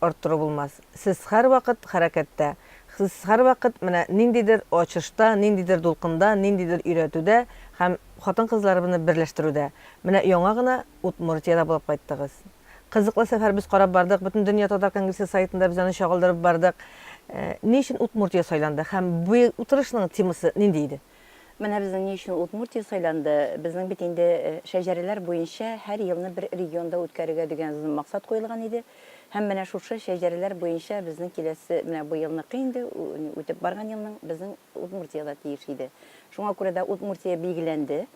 арттыру булмас. Сез һәрвакыт хәрәкәттә, сез һәрвакыт менә ниндидер ачышта, ниндидер дулкында, ниндидер өйрәтүдә һәм хатын-кызларыбызны берләштерүдә. Менә яңа гына Удмуртиядә булып кайттыгыз. Кызыклы сәфәр, без карап бардык, Бөтендөнья татар конгрессы сайтында без аны чагылдырып бардык. Ни өчен Удмуртия сайланды һәм быел утырышның темасы нинди иде? Менә безнең ни өчен Удмуртия сайланды, безнең бит инде шәҗәрәләр буенча һәр елны бер регионда үткәрергә дигән максат куелган иде һәм менә шушы шәҗәрәләр буенча безнең киләсе, менә бу елныкы инде, үтеп барган елның безнең Удмуртия да тиеш иде. Шуңа күрә дә Удмуртия билгеләнде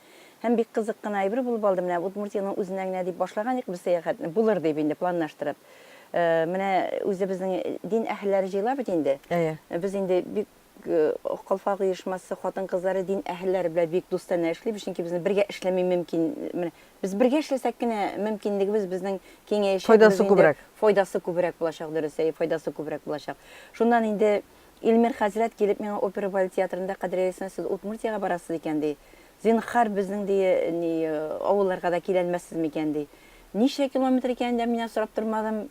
һәм бик кызык кына әйбер булып алды, менә Удмуртиянең үзенә генә дип башлаган идек без сәяхәтне, булыр дип инде планлаштырып. Менә үзебезнең дин әһелләре җыела бит инде. Әйе. Без инде бик Калфак оешмасы хатын-кызлары дин әһелләре белән бик дустанә эшлибез, чөнки безнең бергә эшләми мөмкин. Менә без бергә эшләсәк кенә мөмкинлегебез безнең киңәячәк. Файдасы күбрәк. Файдасы күбрәк булачак, дөрес, әйе, файдасы күбрәк булачак. Шуннан инде Илмир хәзрәт килеп миңа опера балет театрында, Кадрия Лисина, сез Удмуртиягә барасыз икән, ди. Зинһар, безнең, ди, ни, авылларга да киләлмәссез микән, ди. Ничә километр икәнен дә миннән сорап тормадым.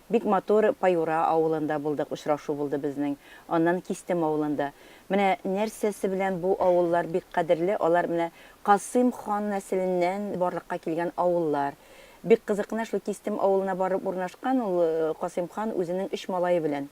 Бик матур Паюра авылында булдык, очрашу булды безнең. Аннан Кистем авылында. Менә нәрсәсе белән бу авыллар бик кадерле, алар менә Касыйм хан нәселеннән барлыкка килгән авыллар. Бик кызык кына шул Кистем авылына барып урнашкан ул Касыйм хан үзенең өч малае белән.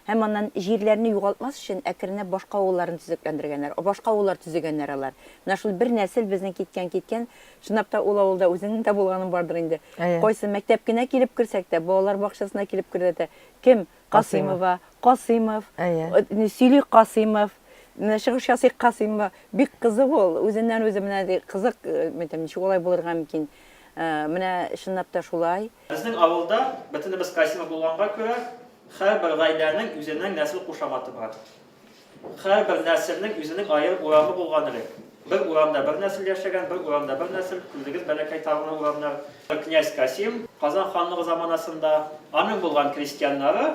Һәм аннан җирләрне югалтмас өчен әкренләп башка авылларын төзекләндергәннәр. О башка авыллар төзегәннәр алар. Менә шул бер нәсел безнең киткән киткән. Чынлап та ул авылда үзеңнең дә булганың бардыр инде. Әйе. Кайсы мәктәп кенә килеп керсәк тә, балалар бакчасына килеп кердә тә, кем? Касыймова, Касыймов, Әйе. Э сөйли Касыймов, менә чыгыш ясый Касыймова. Бик кызык ул, үзеннән-үзе менә ди кызык, э, мәйтәм, ничек алай булырга мөмкин. Э, менә чынлап та шулай. Безнең авылда, бөтенебез Касимов булганга күрә, һәрбер гаиләнең үзенең нәсел кушаматы бар. Һәрбер нәселнең үзенең аерым урамы булган элек. Бер урамда бер нәсел яшәгән, бер урамда бер нәсел, күрдегез бәләкәй тагына урамнар. Князь Касим, Казан ханлыгы заманасында, аның булган крестьяннары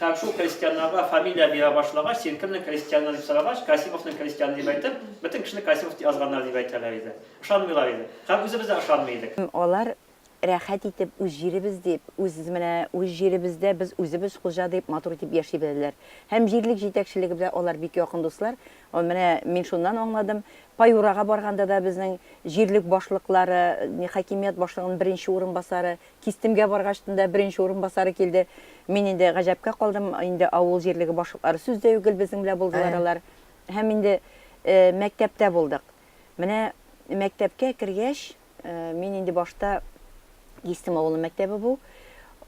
һәм шул крестьяннарга фамилия бирә башлагач, син кемнең крестьяны дип сорагач, Касимовның крестьяны дип әйтеп, бөтен кешене Касимов дип язганнар дип әйтәләр иде. Ышанмыйлар иде. Һәм үзебез дә ышанмый идек. Алар рәхәт итеп үз җиребез дип, үз менә үз җиребездә без үзебез хуҗа дип матур итеп яши беләләр. Һәм җирлек җитәкчелеге белән алар бик якын дуслар. Менә мин шуннан аңладым, Паюрага барганда да безнең җирлек башлыклары, хакимият башлыгының беренче урынбасары, Кистемгә баргачтын да беренче урынбасары килде. Мин инде гаҗәпкә калдым, инде авыл җирлеге башлыклары сүз дә югел безнең белән булдылар алар. Һәм инде мәктәптә булдык. Менә мәктәпкә кергәч, Мин инде башта кистем авылы мәктәбе бу.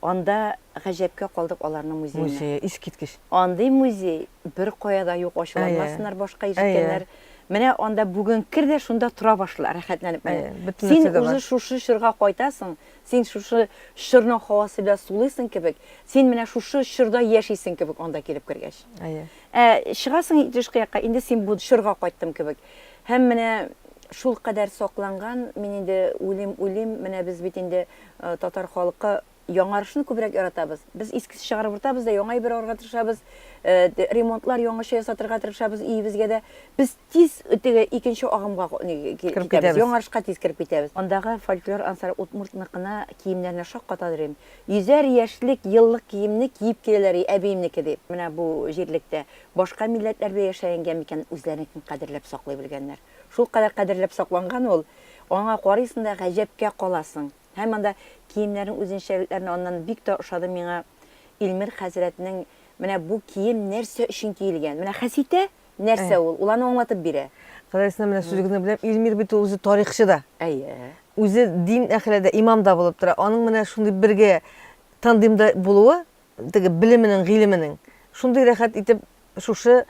Анда гаҗәпкә калдык аларның музеена. Музее, искиткеч. Андый музей бер кая да юк, ачуланмасыннар башка ишеткәннәр. Менә анда бүген кер дә шунда тора башла, рәхәтләнеп менә. Син үзе шушы чорга кайтасың, син шушы чорның һавасы белән сулыйсың кебек, син менә шушы чорда яшисең кебек анда килеп кергәч. Ә чыгасың тышкы якка, инде син бу чорга кайттым кебек. Һәм менә шулкадәр сакланган, мин инде уйлыйм, уйлыйм, менә без бит инде татар халкы яңарышны күбрәк яратабыз. Без искесе чыгарып утабыз да яңа әйбер алырга тырышабыз, ремонтлар яңача ясатырга тырышабыз өебезгә дә. Без тиз теге икенче агымга китәбез, яңарышка тиз кереп китәбез. Андагы фольклор ансары удмуртныкына киемнәренә шаккатадыр идем. Йөзәр яшьлек, еллык киемне киеп киләләр, әбиемнеке дип, менә бу җирлектә. Башка милләтләрдә яшәгәнгә микән үзләренекен кадерләп саклый белгәннәр? Шулкадәр кадерләп сакланган ул, аңа карыйсың да гаҗәпкә каласың. Һәм анда киемнәрнең үзенчәлекләрен аннан бик тә ошады миңа Илмир хәзрәтнең менә бу кием нәрсә өчен киелгән. Менә Хәситә нәрсә ул, ул аны аңлатып бирә. Ходай сына менә сүз генә беләм, Илмир бит ул үзе тарихчы да. Әйе. Үзе дин әхеле дә, имам да булып тора. Аның менә шундый бергә тандемда булуы Теге белеменең, гыйлеменең. Шундый рәхәт итеп шушы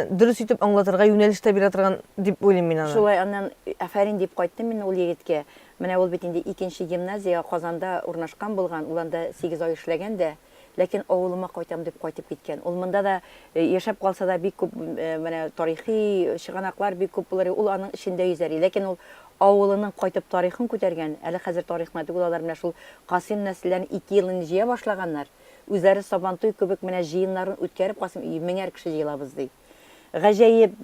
дөрес итеп аңлатырга юнәлеш тә бирә торган дип уйлыйм мин аны. Шулай, аннан афәрин дип кайттым мин ул егеткә. Менә ул бит инде икенче гимназия Казанда урнашкан булган, ул анда сигез ай эшләгән дә. Ләкин авылыма кайтам дип кайтып киткән. Ул монда да яшәп калса да бик күп менә тарихи чыганаклар бик күп булыр, ул аның эчендә йөзәри. Ләкин ул авылының кайтып тарихын күтәргән, әле хәзер тарихны түгел, алар менә шул Касыйм нәселләрен ике ел инде җыя башлаганнар, үзләре Сабантуй кебек менә җыеннарын үткәреп Касыйм өе меңәр кеше җыелабыз ди. Гаҗәеп,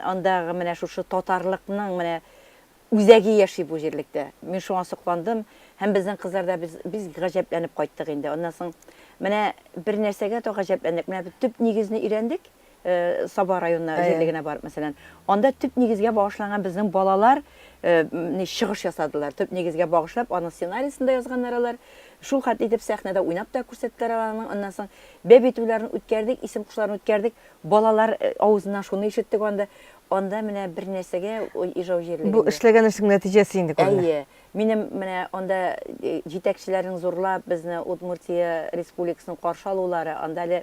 андагы менә шушы татарлыкның менә үзәге яши бу җирлектә. Мин шуңа сокландым һәм безнең кызлар да без бик гаҗәпләнеп кайттык инде. Аннан соң менә бер нәрсәгә дә гаҗәпләндек, менә без төп нигезне өйрәндек, Саба районына җирле генә барып, мәсәлән, анда төп нигезгә багышланган безнең балалар ни чыгыш ясадылар. Төп нигезгә багышлап, аның сценариясен дә язганнар алар. Шул хәтле итеп сәхнәдә уйнап та күрсәттеләр аларның. Аннан соң бәб итүләрен үткәрдек, исем кушуларын үткәрдек. Балалар авызыннан шуны ишеттек анда. Анда менә бер нәрсәгә Ижау җирлегендә. Бу эшләгән эшнең нәтиҗәсе инде күренә. Әйе. Минем менә анда җитәкчеләрнең зурлап безне Удмуртия Республикасының каршы алулары, анда әле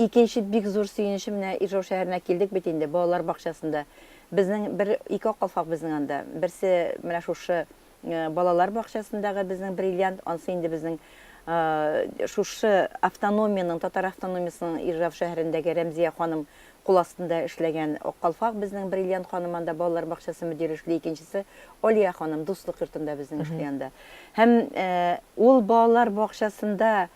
Икенче бик зур сөенечем менә Ижау шәһәренә килдек бит инде, балалар бакчасында. Безнең бер, ике калфак безнең анда. Берсе менә шушы балалар бакчасындагы безнең бриллиант, ансы инде безнең шушы автономиянең, татар автономиясенең Ижау шәһәрендәге Рәмзия ханым кул астында эшләгән ак калфак безнең бриллиант ханым анда балалар бакчасы мөдире эшли, икенчесе Алия ханым Дуслык йортында безнең эшли анда. Һәм ул балалар бакчасында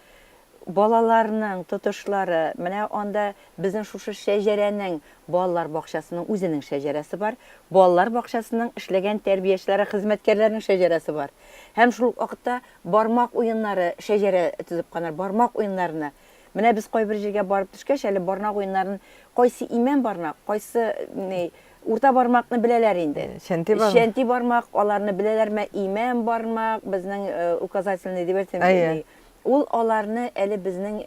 Балаларның тотышлары, менә анда безнең шушы шәҗәрәнең, балалар бакчасының үзенең шәҗәрәсе бар, балалар бакчасының эшләгән тәрбиячеләре, хезмәткәрләренең шәҗәрәсе бар. Һәм шул ук вакытта бармак уеннары шәҗәрә төзеп куйганнар, бармак уеннарына. Менә без кайбер җиргә барып төшкәч, әле барнак уеннарын, кайсы имән барнак, кайсы ни, урта бармакны беләләр инде. Чәнти бармак. Чәнти бармак, аларны беләләрме, имән бармак, безнең указательный дип әйтсәм, Әйе. Ул аларны әле безнең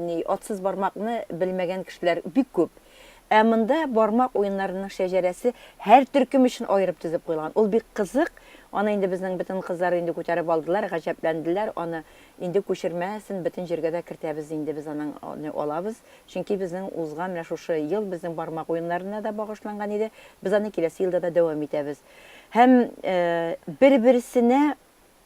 ни атсыз бармакны белмәгән кешеләр бик күп. Ә монда бармак уеннарының шәҗәрәсе һәр төркем өчен аерып төзеп куелган. Ул бик кызык. Аны инде безнең бөтен кызлар инде күтәреп алдылар, гаҗәпләнделәр. Аны инде күчермәсен бөтен җиргә дә кертәбез инде без аның алабыз. Чөнки безнең узган менә шушы ел безнең бармак уеннарына да багышланган иде. Без аны киләсе елда да дәвам итәбез. Һәм бер-берсенә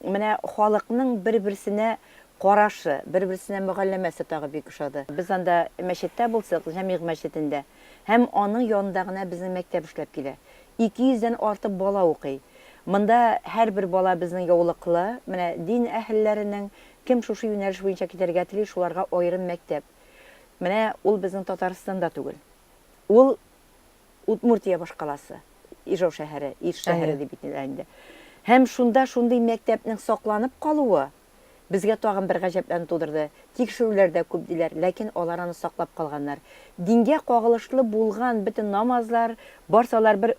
Менә халыкның бер-берсенә карашы, бер-берсенә мөгалләмәсе тагы бик ошады. Без анда мәчеттә булсак, Җәмигъ мәчетендә, һәм аның янында гына безнең мәктәп эшләп килә. Ике йөздән артык бала укый. Монда һәрбер бала безнең яулыклы. Менә дин әһелләренең, кем шушы юнәлеш буенча китәргә тели, шуларга аерым мәктәп. Менә ул безнең Татарстанда түгел. Ул Удмуртия башкаласы, Ижау шәһәре, Иж шәһәре дип әйтелә инде. Һәм шунда шундый мәктәпнең сакланып калуы безгә тагын бер гаҗәпләнү тудырды. Тикшерүләр дә күп диләр, ләкин алар аны саклап калганнар. Дингә кагылышлы булган бөтен намазлар, барсы алар бер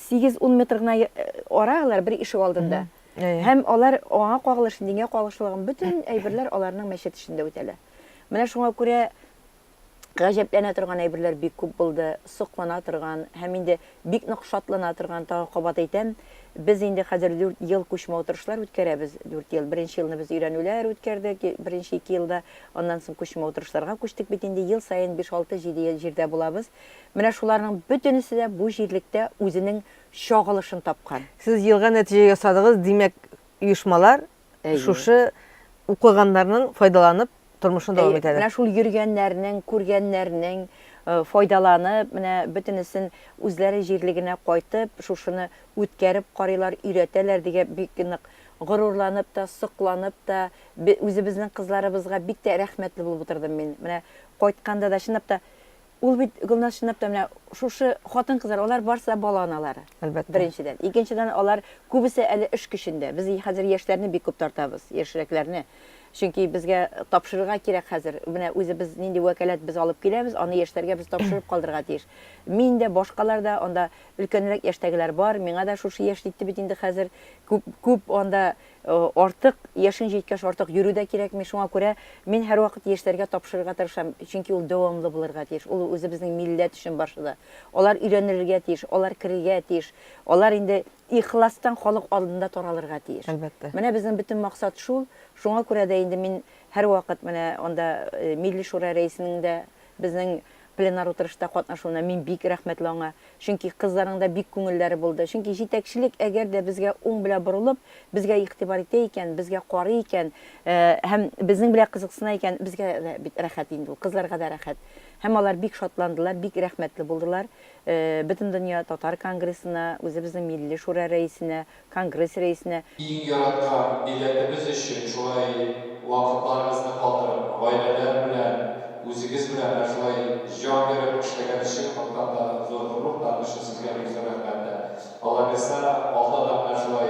8-10 метр гына э, ара алар бер ишек алдында. Һәм алар аңа кагылышлы, дингә кагылышлы булган бөтен әйберләр аларның мәчет эчендә үтәлә. Менә шуңа күрә Гаҗәпләнә торган әйберләр бик күп булды, соклана торган һәм инде бик нык шатлана торган, тагы кабат әйтәм, без инде хәзер дүрт ел күчмә утырышлар үткәрәбез, дүрт ел. Беренче елны без өйрәнүләр үткәрдек, беренче ике елда, аннан соң күчмә утырышларга күчтек бит инде, ел саен биш, алты, җиде ел җирдә булабыз. Менә шуларның бөтенесе дә бу җирлектә үзенең чагылышын тапкан. Сез елга нәтиҗә ясадыгыз, димәк, оешмалар Әйе. Шушы укыганнарның файдаланып тормышын дәвам итәләр. Менә шул йөргәннәрнең, күргәннәрнең файдаланып, менә бөтенесен үзләре җирлегенә кайтып, шушыны үткәреп карыйлар, өйрәтәләр дигә бик нык горурланып та, сокланып та, үзебезнең кызларыбызга бик тә рәхмәтле булып утырдым мин. Менә кайтканда да чынлап та Ул бит, Гөлназ, чынлап та менә шушы хатын-кызлар, алар барысы да бала аналары. Әлбәттә. Беренчедән. Икенчедән, алар күбесе әле эш көчендә. Без хәзер яшьләрне бик күп тартабыз, яшьрәкләрне. Чөнки безгә тапшырырга кирәк хәзер. Менә үзебез нинди вәкаләт без алып киләбез, аны яшьләргә без тапшырып калдырырга тиеш. Мин дә, башкалар да, анда өлкәнрәк яшьтәгеләр бар, миңа да шушы яшь җитте бит инде хәзер. Күп, күп анда Артык, яшең җиткәч, артык йөрү дә кирәкми. Шуңа күрә мин һәрвакыт яшьләргә тапшырырга тырышам, чөнки ул дәвамлы булырга тиеш. Ул үзебезнең милләт өчен барча да. Алар өйрәнелергә тиеш, алар керергә тиеш, алар инде ихластан халык алдында таралырга тиеш. Әлбәттә. Менә безнең бөтен максат шул. Шуңа күрә дә инде мин һәрвакыт менә анда Милли шура рәисенең дә, безнең Пленар утырышта катнашуына мин бик рәхмәтле аңа, чөнки кызларның да бик күңелләре булды. Чөнки җитәкчелек әгәр дә безгә уң белә борылып, безгә игътибар итә икән, безгә карый икән, һәм безнең белә кызыксына икән, безгә дә бит рәхәт инде ул, кызларга да рәхәт. Һәм алар бик шатландылар, бик рәхмәтле булдылар Бөтендөнья татар конгрессына, үзебезнең милли шура рәисенә, Конгресс рәисенә. Иң яраткан милләтебез өчен шулай вакытларыгызны калдырып, гаиләләр белән, үзегез белән менә шулай җан биреп эшләгән өчен Аллаһтан да зур горур таны өчен сезгә бик зур рәхмәт тә. Аллабирса, алда да менә шулай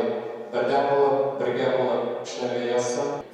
бердәм булып, бергә булып эшләргә язсын.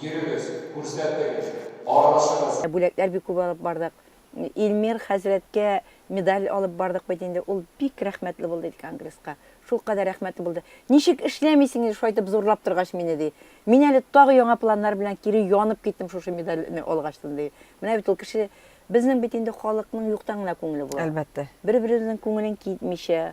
Йөрегез, күрсәтегез, аралашыгыз! Бүләкләр бик күп алып бардык. Илмир хәзрәткә медаль алып бардык бит инде. Ул бик рәхмәтле булды иде конгресска. Шулкадәр рәхмәтле булды. Ничек эшләмисең инде шайтып зурлап торгач мине, ди. Мин әле тагы яңа планнар белән кире янып киттем шушы медальне алгачтын, ди. Менә бит ул кеше, безнең бит инде халыкның юктан гына күңеле була. Әлбәттә. Бер-беребезнең күңелен китмичә,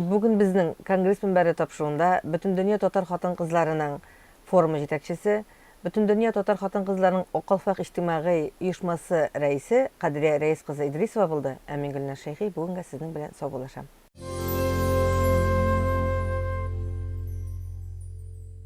Бүген безнең Конгресс мөнбәре тапшыруында Бөтендөнья татар хатын-кызларының форумы җитәкчесе, Бөтендөнья татар хатын-кызларының Акалфак иҗтимагый оешмасы рәисе Кадрия Рәис кызы Идрисова булды, ә мин Гөлназ Шәйхи бүгенгә сезнең белән саубуллашам.